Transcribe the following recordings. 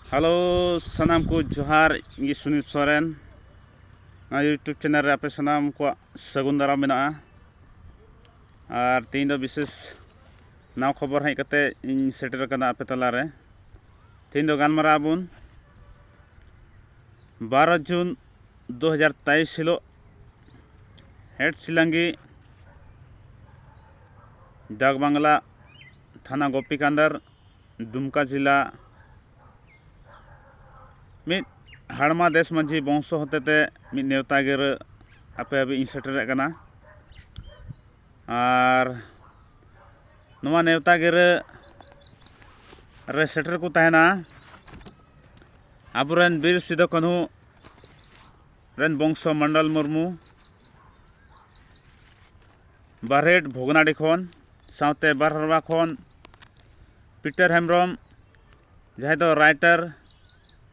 hello ᱥᱟᱱᱟᱢ ᱠᱚ ᱡᱚᱦᱟᱨ ᱤᱧ ᱥᱩᱱᱤᱞ ᱥᱚᱨᱮᱱ ᱱᱚᱣᱟ ᱤᱭᱩᱴᱩᱵᱽ ᱪᱮᱱᱮᱞ ᱨᱮ ᱟᱯᱮ ᱥᱟᱱᱟᱢ ᱠᱚᱣᱟᱜ ᱥᱟᱹᱜᱩᱱ ᱫᱟᱨᱟᱢ ᱢᱮᱱᱟᱜᱼᱟ ᱟᱨ ᱛᱮᱦᱮᱧ ᱫᱚ ᱵᱤᱥᱮᱥ ᱱᱟᱣᱟ ᱠᱷᱚᱵᱚᱨ ᱦᱮᱡ ᱠᱟᱛᱮ ᱤᱧ ᱥᱮᱴᱮᱨ ᱟᱠᱟᱱᱟ ᱟᱯᱮ ᱛᱟᱞᱟᱨᱮ ᱛᱮᱦᱮᱧ ᱫᱚ ᱜᱟᱞᱢᱟᱨᱟᱣ ᱟᱵᱚᱱ ᱵᱟᱨᱚ ᱡᱩᱱ ᱫᱩ ᱦᱟᱡᱟᱨ ᱛᱮᱭᱤᱥ ᱦᱤᱞᱳᱜ ᱦᱮᱰ ᱥᱤᱞᱟᱝᱜᱤ ᱰᱟᱠ ᱵᱟᱝᱞᱟ ᱛᱷᱟᱱᱟ ᱜᱳᱯᱤᱠᱟᱱᱫᱟᱨ ᱫᱩᱢᱠᱟ ᱡᱮᱞᱟ ᱢᱤᱫ ᱦᱟᱲᱢᱟ ᱫᱮᱥ ᱢᱟᱹᱡᱷᱤ ᱵᱚᱝᱥᱚ ᱦᱚᱛᱮᱛᱮ ᱢᱤᱫ ᱱᱮᱣᱛᱟ ᱜᱤᱨᱟᱹ ᱟᱯᱮ ᱦᱟᱹᱵᱤᱡ ᱤᱧ ᱥᱮᱴᱮᱨᱮᱫ ᱠᱟᱱᱟ ᱟᱨ ᱱᱚᱣᱟ ᱱᱮᱣᱛᱟ ᱜᱤᱨᱟᱹ ᱨᱮ ᱥᱮᱴᱮᱨ ᱠᱚ ᱛᱟᱦᱮᱱᱟ ᱟᱵᱚᱨᱮᱱ ᱵᱤᱨ ᱥᱤᱫᱩ ᱠᱟᱹᱱᱦᱩ ᱨᱮᱱ ᱵᱚᱝᱥᱚ ᱢᱚᱱᱰᱚᱞ ᱢᱩᱨᱢᱩ ᱵᱟᱨᱦᱮᱴ ᱵᱷᱚᱜᱽᱱᱟᱰᱤ ᱠᱷᱚᱱ ᱥᱟᱶᱛᱮ ᱵᱟᱨᱦᱟᱨᱣᱟ ᱠᱷᱚᱱ ᱯᱤᱴᱟᱨ ᱦᱮᱢᱵᱨᱚᱢ ᱡᱟᱦᱟᱸᱭ ᱫᱚ ᱨᱟᱭᱴᱟᱨ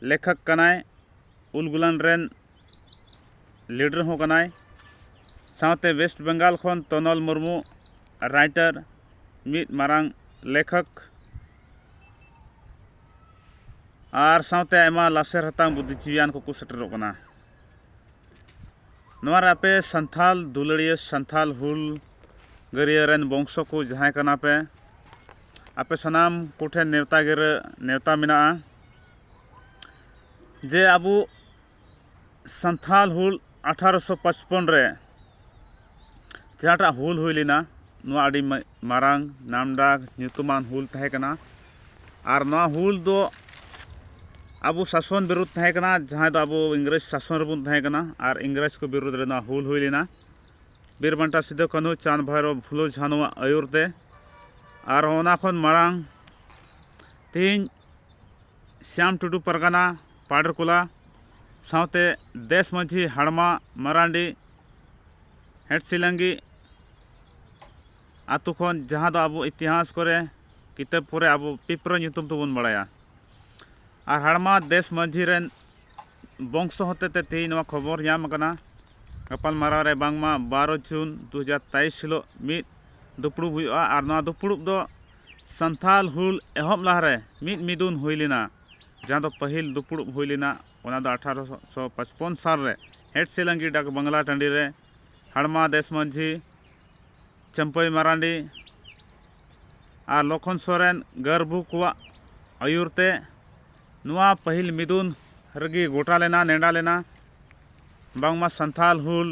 ᱞᱮᱠᱷᱚᱠ ᱠᱟᱱᱟᱭ ᱩᱞ ᱜᱩᱞᱟᱱ ᱨᱮᱱ ᱞᱤᱰᱟᱨ ᱦᱚᱸ ᱠᱟᱱᱟᱭ ᱥᱟᱶᱛᱮ ᱣᱮᱥᱴ ᱵᱮᱝᱜᱟᱞ ᱠᱷᱚᱱ ᱛᱚᱱᱚᱞ ᱢᱩᱨᱢᱩ ᱨᱟᱭᱴᱟᱨ ᱢᱤᱫ ᱢᱟᱨᱟᱝ ᱞᱮᱠᱷᱚᱠ ᱟᱨ ᱥᱟᱶᱛᱮ ᱟᱭᱢᱟ ᱞᱟᱥᱮᱨ ᱦᱟᱛᱟᱝ ᱵᱩᱫᱽᱫᱷᱤᱡᱤᱵᱤᱭᱟᱱ ᱠᱚᱠᱚ ᱥᱮᱴᱮᱨᱚᱜ ᱠᱟᱱᱟ ᱱᱚᱣᱟ ᱨᱮ ᱟᱯᱮ ᱥᱟᱱᱛᱷᱟᱞ ᱫᱩᱞᱟᱹᱲᱤᱭᱟᱹ ᱥᱟᱱᱛᱷᱟᱞ ᱦᱩᱞ ᱜᱟᱹᱨᱤᱭᱟᱹ ᱨᱮᱱ ᱵᱚᱝᱥᱚ ᱠᱚ ᱡᱟᱦᱟᱸᱭ ᱠᱟᱱᱟ ᱯᱮ ᱟᱯᱮ ᱥᱟᱱᱟᱢ ᱠᱚᱴᱷᱮᱱ ᱱᱮᱣᱛᱟ ᱜᱤᱨᱟᱹ ᱱᱮᱣᱛᱟ ᱢᱮᱱᱟᱜᱼᱟ ᱡᱮ ᱟᱵᱚ ᱥᱟᱱᱛᱷᱟᱞ ᱦᱩᱞ ᱟᱴᱷᱟᱨᱚ ᱥᱚ ᱯᱟᱸᱪᱯᱚᱱ ᱨᱮ ᱡᱟᱦᱟᱸᱴᱟᱜ ᱦᱩᱞ ᱦᱩᱭ ᱞᱮᱱᱟ ᱱᱚᱣᱟ ᱟᱹᱰᱤ ᱢᱟᱨᱟᱝ ᱱᱟᱢᱰᱟᱠ ᱧᱩᱛᱩᱢᱟᱱ ᱦᱩᱞ ᱛᱟᱦᱮᱸ ᱠᱟᱱᱟ ᱟᱨ ᱱᱚᱣᱟ ᱦᱩᱞ ᱫᱚ ᱟᱵᱚ ᱥᱟᱥᱚᱱ ᱵᱤᱨᱩᱫᱽ ᱛᱟᱦᱮᱸ ᱠᱟᱱᱟ ᱡᱟᱦᱟᱸᱭ ᱫᱚ ᱟᱵᱚ ᱤᱝᱨᱮᱡᱽ ᱥᱟᱥᱚᱱ ᱨᱮᱵᱚᱱ ᱛᱟᱦᱮᱸ ᱠᱟᱱᱟ ᱟᱨ ᱤᱝᱨᱮᱡᱽ ᱠᱚ ᱵᱤᱨᱩᱫᱽ ᱨᱮ ᱱᱚᱣᱟ ᱦᱩᱞ ᱦᱩᱭ ᱞᱮᱱᱟ ᱵᱤᱨ ᱵᱟᱱᱴᱟ ᱥᱤᱫᱩ ᱠᱟᱹᱱᱦᱩ ᱪᱟᱸᱫᱽ ᱵᱷᱟᱭᱨᱳ ᱯᱷᱩᱞᱳ ᱡᱷᱟᱱᱚᱣᱟᱜ ᱟᱹᱭᱩᱨ ᱛᱮ ᱟᱨ ᱚᱱᱟ ᱠᱷᱚᱱ ᱢᱟᱨᱟᱝ ᱛᱮᱦᱮᱧ ᱥᱭᱟᱢ ᱴᱩᱰᱩ ᱯᱟᱨᱜᱟᱱᱟ ᱯᱟᱰᱮᱨᱠᱚᱞᱟ ᱥᱟᱶᱛᱮ ᱫᱮᱥ ᱢᱟᱹᱡᱷᱤ ᱦᱟᱲᱢᱟ ᱢᱟᱨᱟᱱᱰᱤ ᱦᱮᱸᱴᱥᱤᱞᱟᱝᱜᱤ ᱟᱛᱳ ᱠᱷᱚᱱ ᱡᱟᱦᱟᱸ ᱫᱚ ᱟᱵᱚ ᱤᱛᱤᱦᱟᱥ ᱠᱚᱨᱮ ᱠᱤᱛᱟᱹᱵ ᱠᱚᱨᱮ ᱟᱵᱚ ᱯᱤᱯᱨᱟᱹ ᱧᱩᱛᱩᱢ ᱛᱮᱵᱚᱱ ᱵᱟᱲᱟᱭᱟ ᱟᱨ ᱦᱟᱲᱢᱟ ᱫᱮᱥ ᱢᱟᱹᱡᱷᱤ ᱨᱮᱱ ᱵᱚᱝᱥᱚ ᱦᱚᱛᱮ ᱛᱮ ᱛᱮᱦᱮᱧ ᱱᱚᱣᱟ ᱠᱷᱚᱵᱚᱨ ᱧᱟᱢ ᱟᱠᱟᱱᱟ ᱜᱟᱯᱟᱞ ᱢᱟᱨᱟᱣ ᱨᱮ ᱵᱟᱝᱢᱟ ᱵᱟᱨᱚ ᱡᱩᱱ ᱫᱩ ᱦᱟᱡᱟᱨ ᱛᱮᱭᱤᱥ ᱦᱤᱞᱳᱜ ᱢᱤᱫ ᱫᱩᱯᱲᱩᱵ ᱦᱩᱭᱩᱜᱼᱟ ᱟᱨ ᱱᱚᱣᱟ ᱫᱩᱯᱲᱩᱵ ᱫᱚ ᱥᱟᱱᱛᱷᱟᱞ ᱦᱩᱞ ᱮᱦᱚᱵ ᱞᱟᱦᱟᱨᱮ ᱢᱤᱫ ᱢᱤᱫᱩᱱ ᱦᱩᱭ ᱞᱮᱱᱟ ᱡᱟᱦᱟᱸ ᱫᱚ ᱯᱟᱹᱦᱤᱞ ᱫᱩᱯᱲᱩᱵ ᱦᱩᱭ ᱞᱮᱱᱟ ᱚᱱᱟ ᱫᱚ ᱟᱴᱷᱟᱨᱚ ᱥᱚ ᱯᱟᱸᱪᱯᱚᱱ ᱥᱟᱞ ᱨᱮ ᱦᱮᱰ ᱥᱮᱞᱟᱝᱜᱤ ᱰᱟᱠ ᱵᱟᱝᱞᱟ ᱴᱟᱺᱰᱤ ᱨᱮ ᱦᱟᱲᱢᱟ ᱫᱮᱥ ᱢᱟᱹᱡᱷᱤ ᱪᱟᱹᱢᱯᱟᱹᱭ ᱢᱟᱨᱟᱱᱰᱤ ᱟᱨ ᱞᱚᱠᱷᱚᱱ ᱥᱚᱨᱮᱱ ᱜᱟᱹᱨᱵᱷᱩ ᱠᱚᱣᱟᱜ ᱟᱹᱭᱩᱨ ᱛᱮ ᱱᱚᱣᱟ ᱯᱟᱹᱦᱤᱞ ᱢᱤᱫᱩᱱ ᱨᱮᱜᱮ ᱜᱚᱴᱟ ᱞᱮᱱᱟ ᱱᱮᱰᱟ ᱞᱮᱱᱟ ᱵᱟᱝᱢᱟ ᱥᱟᱱᱛᱷᱟᱞ ᱦᱩᱞ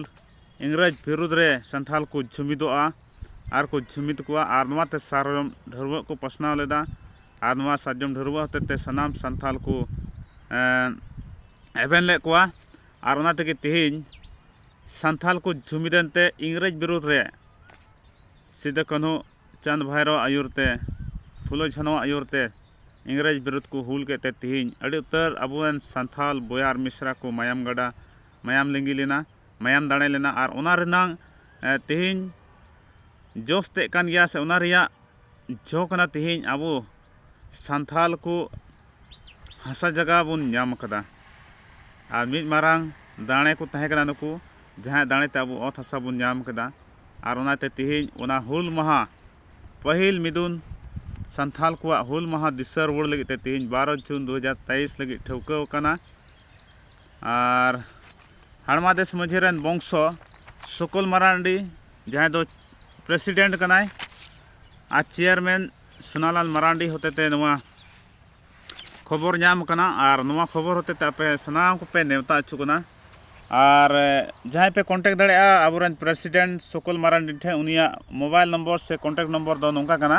ᱤᱝᱨᱮᱡᱽ ᱵᱤᱨᱩᱫᱽ ᱨᱮ ᱥᱟᱱᱛᱷᱟᱞ ᱠᱚ ᱡᱩᱢᱤᱫᱚᱜᱼᱟ ᱟᱨ ᱠᱚ ᱡᱩᱢᱤᱫ ᱠᱚᱣᱟ ᱟᱨ ᱱᱚᱣᱟᱛᱮ ᱥᱟᱨᱡᱚᱢ ᱰᱷᱟᱹᱣᱟᱹᱜ ᱠᱚ ᱯᱟᱥᱱᱟᱣ ᱞᱮᱫᱟ ᱟᱨ ᱱᱚᱣᱟ ᱥᱟᱨᱡᱚᱢ ᱰᱷᱟᱹᱨᱣᱟᱹᱜ ᱦᱚᱛᱮᱫ ᱛᱮ ᱥᱟᱱᱟᱢ ᱥᱟᱱᱛᱟᱲ ᱠᱚ ᱮᱵᱷᱮᱱ ᱞᱮᱫ ᱠᱚᱣᱟ ᱟᱨ ᱚᱱᱟ ᱛᱮᱜᱮ ᱛᱮᱦᱮᱧ ᱥᱟᱱᱛᱟᱲ ᱠᱚ ᱡᱩᱢᱤᱫ ᱮᱱᱛᱮ ᱤᱝᱨᱮᱡᱽ ᱵᱤᱨᱩᱫᱽ ᱨᱮ ᱥᱤᱫᱩ ᱠᱟᱹᱱᱦᱩ ᱪᱟᱸᱫᱽ ᱵᱷᱟᱭᱨᱳ ᱟᱜ ᱟᱹᱭᱩᱨ ᱛᱮ ᱯᱷᱩᱞᱳ ᱡᱷᱟᱱᱳ ᱟᱜ ᱟᱹᱭᱩᱨ ᱛᱮ ᱤᱝᱨᱮᱡᱽ ᱵᱤᱨᱩᱫᱽ ᱠᱚ ᱦᱩᱞ ᱠᱮᱫ ᱛᱮ ᱛᱮᱦᱮᱧ ᱟᱹᱰᱤ ᱩᱛᱟᱹᱨ ᱟᱵᱚ ᱨᱮᱱ ᱥᱟᱱᱛᱟᱲ ᱵᱚᱭᱦᱟ ᱟᱨ ᱢᱤᱥᱨᱟ ᱠᱚ ᱢᱟᱭᱟᱢ ᱜᱟᱰᱟ ᱢᱟᱭᱟᱢ ᱞᱤᱸᱜᱤ ᱞᱮᱱᱟ ᱢᱟᱭᱟᱢ ᱫᱟᱲᱮ ᱞᱮᱱᱟ ᱟᱨ ᱚᱱᱟ ᱨᱮᱱᱟᱜ ᱛᱮᱦᱮᱧ ᱡᱚᱥ ᱛᱮᱫ ᱠᱟᱱ ᱜᱮᱭᱟ ᱥᱮ ᱚᱱᱟ ᱨᱮᱭᱟᱜ ᱡᱚ ᱠᱟᱱᱟ ᱛᱮᱦᱮᱧ ᱟᱵᱚ ᱥᱟᱱᱛᱟᱲ ᱠᱚ ᱦᱟᱥᱟ ᱡᱟᱭᱜᱟ ᱵᱚᱱ ᱧᱟᱢ ᱠᱟᱫᱟ ᱟᱨ ᱢᱤᱫ ᱢᱟᱨᱟᱝ ᱫᱟᱲᱮ ᱠᱚ ᱛᱟᱦᱮᱸ ᱠᱟᱱᱟ ᱱᱩᱠᱩ ᱡᱟᱦᱟᱸᱭᱟᱜ ᱫᱟᱲᱮ ᱛᱮ ᱟᱵᱚ ᱚᱛ ᱦᱟᱥᱟ ᱵᱚᱱ ᱧᱟᱢ ᱠᱮᱫᱟ ᱟᱨ ᱚᱱᱟᱛᱮ ᱛᱮᱦᱮᱧ ᱚᱱᱟ ᱦᱩᱞ ᱢᱟᱦᱟ ᱯᱟᱹᱦᱤᱞ ᱢᱤᱫᱩᱱ ᱥᱟᱱᱛᱟᱲ ᱠᱚᱣᱟᱜ ᱦᱩᱞ ᱢᱟᱦᱟ ᱫᱤᱥᱟᱹ ᱨᱩᱣᱟᱹᱲ ᱞᱟᱹᱜᱤᱫ ᱛᱮ ᱛᱮᱦᱮᱧ ᱵᱟᱨᱚ ᱡᱩᱱ ᱫᱩ ᱦᱟᱡᱟᱨ ᱛᱮᱭᱤᱥ ᱞᱟᱹᱜᱤᱫ ᱴᱷᱟᱹᱣᱠᱟᱹᱣ ᱠᱟᱱᱟ ᱟᱨ ᱦᱟᱲᱢᱟ ᱫᱮᱥ ᱢᱟᱹᱡᱷᱤ ᱨᱮᱱ ᱵᱚᱝᱥᱚ ᱥᱩᱠᱩᱞ ᱢᱟᱨᱟᱱᱰᱤ ᱡᱟᱦᱟᱸᱭ ᱫᱚ ᱯᱨᱮᱥᱤᱰᱮᱱᱴ ᱠᱟᱱᱟᱭ ᱟᱨ ᱪᱮᱭᱟᱨᱢᱮᱱ ᱥᱳᱱᱟᱞᱟᱞ ᱢᱟᱨᱟᱱᱰᱤ ᱦᱚᱛᱮᱛᱮ ᱱᱚᱣᱟ ᱠᱷᱚᱵᱚᱨ ᱧᱟᱢ ᱠᱟᱱᱟ ᱟᱨ ᱱᱚᱣᱟ ᱠᱷᱚᱵᱚᱨ ᱦᱚᱛᱮᱛᱮ ᱟᱯᱮ ᱥᱟᱱᱟᱢ ᱠᱚᱯᱮ ᱱᱮᱣᱛᱟ ᱦᱚᱪᱚ ᱠᱟᱱᱟ ᱟᱨ ᱡᱟᱦᱟᱸᱭ ᱯᱮ ᱠᱚᱱᱴᱮᱠᱴ ᱫᱟᱲᱮᱭᱟᱜᱼᱟ ᱟᱵᱚᱨᱮᱱ ᱯᱨᱮᱥᱤᱰᱮᱱᱴ ᱥᱩᱠᱩᱞ ᱢᱟᱨᱟᱱᱰᱤ ᱴᱷᱮᱱ ᱩᱱᱤᱭᱟᱜ ᱢᱳᱵᱟᱭᱤᱞ ᱱᱚᱢᱵᱚᱨ ᱥᱮ ᱠᱚᱱᱴᱮᱠᱴ ᱱᱚᱢᱵᱚᱨ ᱫᱚ ᱱᱚᱝᱠᱟ ᱠᱟᱱᱟ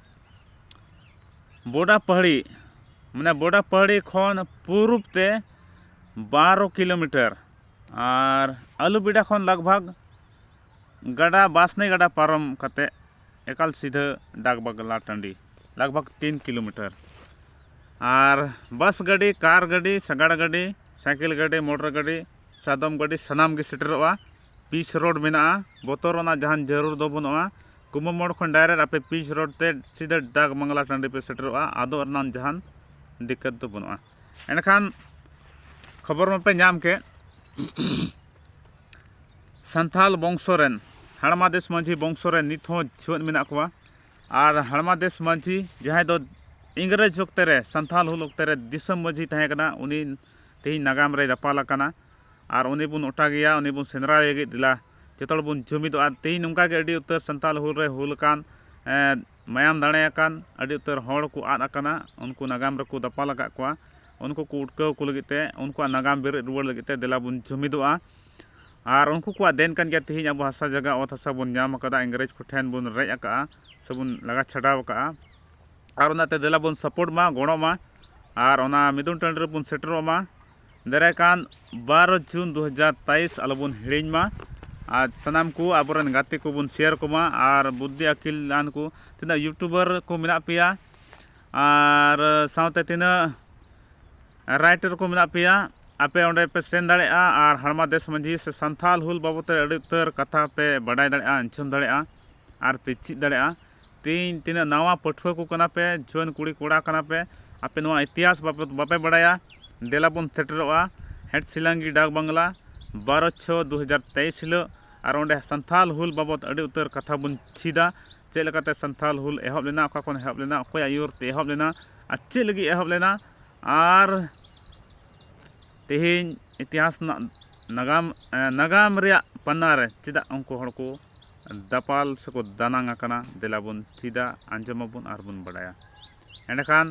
ᱵᱚᱰᱟ ᱯᱟᱹᱦᱟᱹᱲᱤ ᱢᱟᱱᱮ ᱵᱚᱰᱟ ᱯᱟᱹᱦᱟᱹᱲᱤ ᱠᱷᱚᱱ ᱯᱩᱨᱩᱵᱽ ᱛᱮ ᱵᱟᱨᱚ ᱠᱤᱞᱳᱢᱤᱴᱟᱨ ᱟᱨ ᱟᱹᱞᱩᱵᱮᱰᱟ ᱠᱷᱚᱱ ᱞᱟᱜᱽ ᱵᱷᱟᱜᱽ ᱜᱟᱰᱟ ᱵᱟᱥᱱᱤ ᱜᱟᱰᱟ ᱯᱟᱨᱚᱢ ᱠᱟᱛᱮ ᱮᱠᱟᱞ ᱥᱤᱫᱷᱟᱹ ᱰᱟᱠ ᱵᱟᱝᱞᱟ ᱴᱟᱺᱰᱤ ᱞᱟᱜᱽ ᱵᱷᱟᱜᱽ ᱛᱤᱱ ᱠᱤᱞᱳᱢᱤᱴᱟᱨ ᱟᱨ ᱵᱟᱥ ᱜᱟᱹᱰᱤ ᱠᱟᱨ ᱜᱟᱹᱰᱤ ᱥᱟᱸᱜᱟᱲ ᱜᱟᱹᱰᱤ ᱥᱟᱭᱠᱮᱞ ᱜᱟᱹᱰᱤ ᱢᱚᱴᱚᱨ ᱜᱟᱹᱰᱤ ᱥᱟᱫᱚᱢ ᱜᱟᱹᱰᱤ ᱥᱟᱱᱟᱢ ᱜᱮ ᱥᱮᱴᱮᱨᱚᱜᱼᱟ ᱯᱤᱪ ᱨᱳᱰ ᱢᱮᱱᱟᱜᱼᱟ ᱵᱚᱛᱚᱨ ᱨᱮᱱᱟᱜ ᱡᱟᱦᱟᱱ ᱡᱟᱹᱨᱩᱲ ᱫᱚ ᱵᱟᱹᱱᱩᱜᱼᱟ ᱠᱩᱢᱩ ᱢᱳᱲ ᱠᱷᱚᱱ ᱰᱟᱭᱨᱮᱠᱴ ᱟᱯᱮ ᱯᱤᱪ ᱨᱳᱰ ᱛᱮ ᱥᱤᱫᱷᱟᱹ ᱰᱟᱠ ᱵᱟᱝᱞᱟ ᱴᱟᱺᱰᱤ ᱯᱮ ᱥᱮᱴᱮᱨᱚᱜᱼᱟ ᱟᱫᱚ ᱨᱮᱱᱟᱜ ᱡᱟᱦᱟᱱ ᱫᱤᱠᱠᱟᱹᱛ ᱫᱚ ᱵᱟᱹᱱᱩᱜᱼᱟ ᱮᱱᱠᱷᱟᱱ ᱠᱷᱚᱵᱚᱨ ᱢᱟᱯᱮ ᱧᱟᱢ ᱠᱮᱫ ᱥᱟᱱᱛᱟᱲ ᱵᱚᱝᱥᱚ ᱨᱮᱱ ᱦᱟᱲᱢᱟ ᱫᱮᱥ ᱢᱟᱹᱡᱷᱤ ᱵᱚᱝᱥᱚ ᱨᱮ ᱱᱤᱛ ᱦᱚᱸ ᱡᱤᱣᱮᱫ ᱢᱮᱱᱟᱜ ᱠᱚᱣᱟ ᱟᱨ ᱦᱟᱲᱢᱟ ᱫᱮᱥ ᱢᱟᱹᱡᱷᱤ ᱡᱟᱦᱟᱸᱭ ᱫᱚ ᱤᱝᱨᱮᱡᱽ ᱚᱠᱛᱮ ᱨᱮ ᱥᱟᱱᱛᱟᱲ ᱦᱩᱞ ᱚᱠᱛᱮ ᱨᱮ ᱫᱤᱥᱚᱢ ᱢᱟᱹᱡᱷᱤ ᱛᱟᱦᱮᱸ ᱠᱟᱱᱟ ᱩᱱᱤ ᱛᱮᱦᱮᱧ ᱱᱟᱜᱟᱢ ᱨᱮ ᱫᱟᱯᱟᱞ ᱟᱠᱟᱱᱟ ᱟᱨ ᱩᱱᱤ ᱵᱚᱱ ᱚᱴᱟᱜᱮᱭᱟ ᱩᱱᱤ ᱵᱚᱱ ᱥᱮᱸᱫᱽᱨᱟᱭᱮ ᱞᱟᱹᱜᱤᱫ ᱫᱮᱞᱟ ᱡᱚᱛᱚ ᱦᱚᱲ ᱵᱚᱱ ᱡᱩᱢᱤᱫᱚᱜᱼᱟ ᱛᱮᱦᱮᱧ ᱱᱚᱝᱠᱟ ᱜᱮ ᱟᱹᱰᱤ ᱩᱛᱟᱹᱨ ᱥᱟᱱᱛᱟᱲ ᱦᱩᱞ ᱨᱮ ᱦᱩᱞ ᱟᱠᱟᱱ ᱢᱟᱭᱟᱢ ᱫᱟᱲᱮ ᱟᱠᱟᱱ ᱟᱹᱰᱤ ᱩᱛᱟᱹᱨ ᱦᱚᱲ ᱠᱚ ᱟᱫ ᱟᱠᱟᱱᱟ ᱩᱱᱠᱩ ᱱᱟᱜᱟᱢ ᱨᱮᱠᱚ ᱫᱟᱯᱟᱞ ᱟᱠᱟᱫ ᱠᱚᱣᱟ ᱩᱱᱠᱩ ᱠᱚ ᱩᱴᱠᱟᱹᱣ ᱠᱚ ᱞᱟᱹᱜᱤᱫ ᱛᱮ ᱩᱱᱠᱩᱣᱟᱜ ᱱᱟᱜᱟᱢ ᱵᱮᱨᱮᱫ ᱨᱩᱣᱟᱹᱲ ᱞᱟᱹᱜᱤᱫ ᱛᱮ ᱫᱮᱞᱟ ᱵᱚᱱ ᱡᱩᱢᱤᱫᱚᱜᱼᱟ ᱟᱨ ᱩᱱᱠᱩ ᱠᱚᱣᱟᱜ ᱫᱮᱱ ᱠᱟᱱ ᱜᱮᱭᱟ ᱛᱮᱦᱮᱧ ᱟᱵᱚ ᱦᱟᱥᱟ ᱡᱟᱭᱜᱟ ᱚᱛ ᱦᱟᱥᱟ ᱵᱚᱱ ᱧᱟᱢ ᱟᱠᱟᱫᱟ ᱤᱝᱨᱮᱡᱽ ᱠᱚᱴᱷᱮᱱ ᱵᱚᱱ ᱨᱮᱡ ᱟᱠᱟᱫᱼᱟ ᱥᱮᱵᱚᱱ ᱞᱟᱜᱟ ᱪᱷᱟᱰᱟᱣ ᱟᱠᱟᱫᱼᱟ ᱟᱨ ᱚᱱᱟᱛᱮ ᱫᱮᱞᱟ ᱵᱚᱱ ᱥᱟᱯᱳᱨᱴ ᱢᱟ ᱜᱚᱲᱚᱜ ᱢᱟ ᱟᱨ ᱚᱱᱟ ᱢᱤᱫᱩᱱ ᱴᱟᱺᱰᱤ ᱨᱮᱵᱚᱱ ᱥᱮᱴᱮᱨᱚᱜ ᱢᱟ ᱫᱟᱨᱟᱭ ᱠᱟᱱ ᱵᱟᱨᱚ ᱡᱩᱱ ᱫᱩ ᱦᱟᱡᱟᱨ ᱛᱮᱭᱤᱥ ᱟᱞᱚ ᱵᱚᱱ ᱦᱤᱲᱤᱧ ᱢᱟ ᱟᱨ ᱥᱟᱱᱟᱢ ᱠᱚ ᱟᱵᱚ ᱨᱮᱱ ᱜᱟᱛᱮ ᱠᱚᱵᱚᱱ ᱥᱮᱭᱟᱨ ᱟᱠᱚᱢᱟ ᱟᱨ ᱵᱩᱫᱽᱫᱷᱤ ᱟᱹᱠᱤᱞ ᱟᱱ ᱠᱚ ᱛᱤᱱᱟᱹᱜ ᱤᱭᱩᱴᱩᱵᱟᱨ ᱠᱚ ᱢᱮᱱᱟᱜ ᱯᱮᱭᱟ ᱟᱨ ᱥᱟᱶᱛᱮ ᱛᱤᱱᱟᱹᱜ ᱨᱟᱭᱴᱟᱨ ᱠᱚ ᱢᱮᱱᱟᱜ ᱯᱮᱭᱟ ᱟᱯᱮ ᱚᱸᱰᱮ ᱯᱮ ᱥᱮᱱ ᱫᱟᱲᱮᱭᱟᱜᱼᱟ ᱟᱨ ᱦᱟᱲᱢᱟ ᱫᱮᱥ ᱢᱟᱹᱡᱷᱤ ᱥᱮ ᱥᱟᱱᱛᱷᱟᱞ ᱦᱩᱞ ᱵᱟᱵᱚᱫ ᱛᱮ ᱟᱹᱰᱤ ᱩᱛᱟᱹᱨ ᱠᱟᱛᱷᱟ ᱯᱮ ᱵᱟᱰᱟᱭ ᱫᱟᱲᱮᱭᱟᱜᱼᱟ ᱩᱪᱷᱟᱹᱱ ᱫᱟᱲᱮᱭᱟᱜᱼᱟ ᱟᱨ ᱯᱮ ᱪᱮᱫ ᱫᱟᱲᱮᱭᱟᱜᱼᱟ ᱛᱮᱦᱮᱧ ᱛᱤᱱᱟᱹᱜ ᱱᱟᱣᱟ ᱯᱟᱹᱴᱷᱩᱣᱟᱹ ᱠᱚ ᱠᱟᱱᱟ ᱯᱮ ᱡᱩᱣᱟᱹᱱ ᱠᱩᱲᱤ ᱠᱚᱲᱟ ᱠᱟᱱᱟ ᱯᱮ ᱟᱯᱮ ᱱᱚᱣᱟ ᱤᱛᱤᱦᱟᱥ ᱵᱟᱵᱚᱫ ᱵᱟᱯᱮ ᱵᱟᱲᱟᱭᱟ ᱫᱮᱞᱟ ᱵᱚᱱ ᱥᱮᱴᱮᱨᱚᱜᱼᱟ ᱦᱮᱴᱥᱤᱞᱟᱝᱜᱤ ᱰᱟᱠ ᱵᱟᱝᱞᱟ ᱵᱟᱨᱚ ᱪᱷᱚᱭ ᱫᱩ ᱦᱟᱡᱟᱨ ᱛᱮᱭᱤᱥ ᱦᱤᱞᱳᱜ ᱟᱨ ᱚᱸᱰᱮ ᱥᱟᱱᱛᱷᱟᱞ ᱦᱩᱞ ᱵᱟᱵᱚᱫ ᱟᱹᱰᱤ ᱩᱛᱟᱹᱨ ᱠᱟᱛᱷᱟ ᱵᱚᱱ ᱪᱮᱫᱟ ᱪᱮᱫ ᱞᱮᱠᱟᱛᱮ ᱥᱟᱱᱛᱷᱟᱞ ᱦᱩᱞ ᱮᱦᱚᱵ ᱞᱮᱱᱟ ᱚᱠᱟ ᱠᱷᱚᱱ ᱮᱦᱚᱵ ᱞᱮᱱᱟ ᱚᱠᱚᱭᱟᱜ ᱟᱹᱭᱩᱨ ᱛᱮ ᱮᱦᱚᱵ ᱞᱮᱱᱟ ᱟᱨ ᱪᱮᱫ ᱞᱟᱹᱜᱤᱫ ᱮᱦᱚᱵ ᱞᱮᱱᱟ ᱟᱨ ᱛᱮᱦᱮᱧ ᱤᱛᱤᱦᱟᱥ ᱨᱮᱱᱟᱜ ᱱᱟᱜᱟᱢ ᱱᱟᱜᱟᱢ ᱨᱮᱭᱟᱜ ᱯᱟᱱᱱᱟ ᱨᱮ ᱪᱮᱫᱟᱜ ᱩᱱᱠᱩ ᱦᱚᱲ ᱠᱚ ᱫᱟᱯᱟᱞ ᱥᱮᱠᱚ ᱫᱟᱱᱟᱝ ᱟᱠᱟᱱᱟ ᱫᱮᱞᱟ ᱵᱚᱱ ᱪᱮᱫᱟ ᱟᱸᱡᱚᱢ ᱟᱵᱚᱱ ᱟᱨ ᱵᱚᱱ ᱵᱟᱲᱟᱭᱟ ᱮᱸᱰᱮᱠᱷᱟᱱ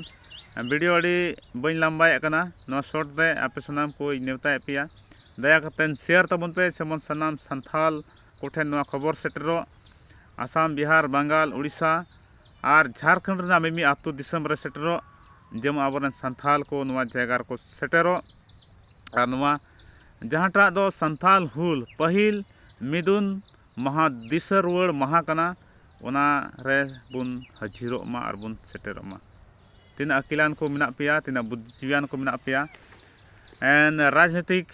ᱵᱷᱤᱰᱤᱭᱳ ᱟᱹᱰᱤ ᱵᱟᱹᱧ ᱞᱟᱢᱵᱟᱭᱮᱫ ᱠᱟᱱᱟ ᱱᱚᱣᱟ ᱥᱚᱨᱴ ᱨᱮ ᱟᱯᱮ ᱥᱟᱱᱟᱢ ᱠᱚᱧ ᱱᱮᱣᱛᱟᱭᱮᱫ ᱯᱮᱭᱟ ᱫᱟᱭᱟ ᱠᱟᱛᱮᱫ ᱥᱮᱭᱟᱨ ᱛᱟᱵᱚᱱ ᱯᱮ ᱡᱮᱢᱚᱱ ᱥᱟᱱᱟᱢ ᱥᱟᱱᱛᱟᱲ ᱠᱚᱴᱷᱮᱱ ᱱᱚᱣᱟ ᱠᱷᱚᱵᱚᱨ ᱥᱮᱴᱮᱨᱚᱜ ᱟᱥᱟᱢ ᱵᱤᱦᱟᱨ ᱵᱟᱝᱜᱟᱞ ᱳᱰᱤᱥᱟ ᱟᱨ ᱡᱷᱟᱲᱠᱷᱚᱸᱰ ᱨᱮᱱᱟᱜ ᱢᱤᱢᱤᱫ ᱟᱹᱛᱩ ᱫᱤᱥᱚᱢ ᱨᱮ ᱥᱮᱴᱮᱨᱚᱜ ᱡᱮᱢᱚᱱ ᱟᱵᱚ ᱨᱮᱱ ᱥᱟᱱᱛᱟᱲ ᱠᱚ ᱱᱚᱣᱟ ᱡᱟᱭᱜᱟ ᱨᱮᱠᱚ ᱥᱮᱴᱮᱨᱚᱜ ᱟᱨ ᱱᱚᱣᱟ ᱡᱟᱦᱟᱸᱴᱟᱜ ᱫᱚ ᱥᱟᱱᱛᱟᱲ ᱦᱩᱞ ᱯᱟᱹᱦᱤᱞ ᱢᱤᱫᱩᱱ ᱢᱟᱦᱟ ᱫᱤᱥᱟᱹ ᱨᱩᱣᱟᱹᱲ ᱢᱟᱦᱟ ᱠᱟᱱᱟ ᱚᱱᱟ ᱨᱮᱵᱚᱱ ᱦᱟᱹᱡᱤᱨᱚᱜ ᱢᱟ ᱟᱨ ᱵᱚᱱ ᱥᱮᱴᱮᱨᱚᱜ ᱢᱟ ᱛᱤᱱᱟᱹᱜ ᱟᱹᱠᱤᱞᱟᱱ ᱠᱚ ᱢᱮᱱᱟᱜ ᱯᱮᱭᱟ ᱛᱤᱱᱟᱹᱜ ᱵᱩᱫᱽᱫᱷᱤ ᱡᱤᱵᱤᱭᱟᱱ ᱠᱚ ᱢᱮᱱᱟᱜ ᱯᱮᱭᱟ ᱮᱱ ᱨᱟᱡᱽᱱᱤᱛᱤᱠ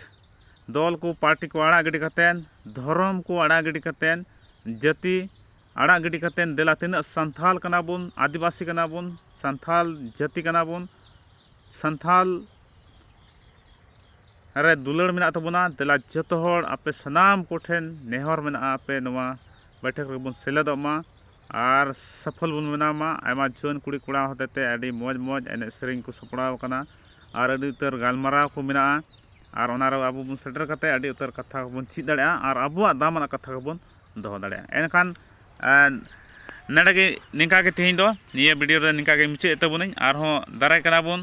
ᱫᱚᱞ ᱠᱚ ᱯᱟᱨᱴᱤ ᱠᱚ ᱟᱲᱟᱜ ᱜᱤᱰᱤ ᱠᱟᱛᱮᱫ ᱫᱷᱚᱨᱚᱢ ᱠᱚ ᱟᱲᱟᱜ ᱜᱤᱰᱤ ᱠᱟᱛᱮᱫ ᱡᱟᱹᱛᱤ ᱟᱲᱟᱜ ᱜᱤᱰᱤ ᱠᱟᱛᱮᱫ ᱫᱮᱞᱟ ᱛᱤᱱᱟᱹᱜ ᱥᱟᱱᱛᱟᱲ ᱠᱟᱱᱟ ᱵᱚᱱ ᱟᱹᱫᱤᱵᱟᱹᱥᱤ ᱠᱟᱱᱟ ᱵᱚᱱ ᱥᱟᱱᱛᱟᱲ ᱡᱟᱹᱛᱤ ᱠᱟᱱᱟ ᱵᱚᱱ ᱥᱟᱱᱛᱟᱲ ᱨᱮ ᱫᱩᱞᱟᱹᱲ ᱢᱮᱱᱟᱜ ᱛᱟᱵᱚᱱᱟ ᱫᱮᱞᱟ ᱡᱚᱛᱚ ᱦᱚᱲ ᱟᱯᱮ ᱥᱟᱱᱟᱢ ᱠᱚᱴᱷᱮᱱ ᱱᱮᱦᱚᱨ ᱢᱮᱱᱟᱜᱼᱟ ᱟᱯᱮ ᱱᱚᱣᱟ ᱵᱟᱹᱭᱴᱷᱟᱹᱠ ᱨᱮᱵᱚᱱ ᱥᱮᱞᱮᱫᱚᱜ ᱢᱟ ᱟᱨ ᱥᱚᱯᱷᱚᱞ ᱵᱚᱱ ᱵᱮᱱᱟᱣ ᱢᱟ ᱟᱭᱢᱟ ᱡᱩᱣᱟᱹᱱ ᱠᱩᱲᱤ ᱠᱚᱲᱟ ᱦᱚᱛᱮᱡ ᱛᱮ ᱟᱹᱰᱤ ᱢᱚᱡᱽ ᱢᱚᱡᱽ ᱮᱱᱮᱡ ᱥᱮᱨᱮᱧ ᱠᱚ ᱥᱟᱯᱲᱟᱣ ᱠᱟᱱᱟ ᱟᱨ ᱟᱹᱰᱤ ᱩᱛᱟᱹᱨ ᱜᱟᱞᱢᱟᱨᱟᱣ ᱠᱚ ᱢᱮᱱᱟᱜᱼᱟ ᱟᱨ ᱚᱱᱟᱨᱮ ᱟᱵᱚ ᱵᱚᱱ ᱥᱮᱴᱮᱨ ᱠᱟᱛᱮᱫ ᱟᱹᱰᱤ ᱩᱛᱟᱹᱨ ᱠᱟᱛᱷᱟ ᱠᱚᱵᱚᱱ ᱪᱮᱫ ᱫᱟᱲᱮᱭᱟᱜᱼᱟ ᱟᱨ ᱟᱵᱚᱣᱟᱜ ᱫᱟᱢᱟᱱᱟᱜ ᱠᱟᱛᱷᱟ ᱠᱚᱵᱚᱱ ᱫᱚᱦᱚ ᱫᱟᱲᱮᱭᱟᱜᱼᱟ ᱮᱱᱠᱷᱟᱱ ᱱᱚᱰᱮᱜᱮ ᱱᱤᱝᱠᱟᱜᱮ ᱛᱮᱦᱮᱧ ᱫᱚ ᱱᱤᱭᱟᱹ ᱵᱷᱤᱰᱭᱳ ᱫᱚ ᱱᱤᱝᱠᱟᱜᱮ ᱢᱩᱪᱟᱹᱫ ᱮᱫ ᱛᱟᱵᱚᱱᱟᱹᱧ ᱟᱨᱦᱚᱸ ᱫᱟᱨᱟᱭ ᱠᱟᱱᱟᱵᱚᱱ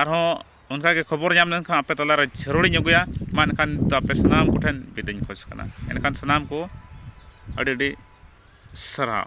ᱟᱨᱦᱚᱸ ᱚᱱᱠᱟ ᱜᱮ ᱠᱷᱚᱵᱚᱨ ᱧᱟᱢ ᱞᱮᱱᱠᱷᱟᱱ ᱟᱯᱮ ᱛᱟᱞᱟ ᱨᱮ ᱡᱷᱟᱹᱨᱩᱲᱤᱧ ᱟᱹᱜᱩᱭᱟ ᱢᱟ ᱮᱱᱠᱷᱟᱱ ᱱᱤᱛᱚᱜ ᱟᱯᱮ ᱥᱟᱱᱟᱢ ᱠᱚᱴᱷᱮᱱ ᱵᱤᱫᱟᱹᱭᱤᱧ ᱠᱷᱚᱡᱽ ᱠᱟᱱᱟ ᱮᱱᱠᱷᱟᱱ ᱥᱟᱱᱟᱢ ᱠᱚ ᱟᱹᱰᱤ ᱟᱹᱰᱤ ᱥᱟᱨᱦᱟᱣ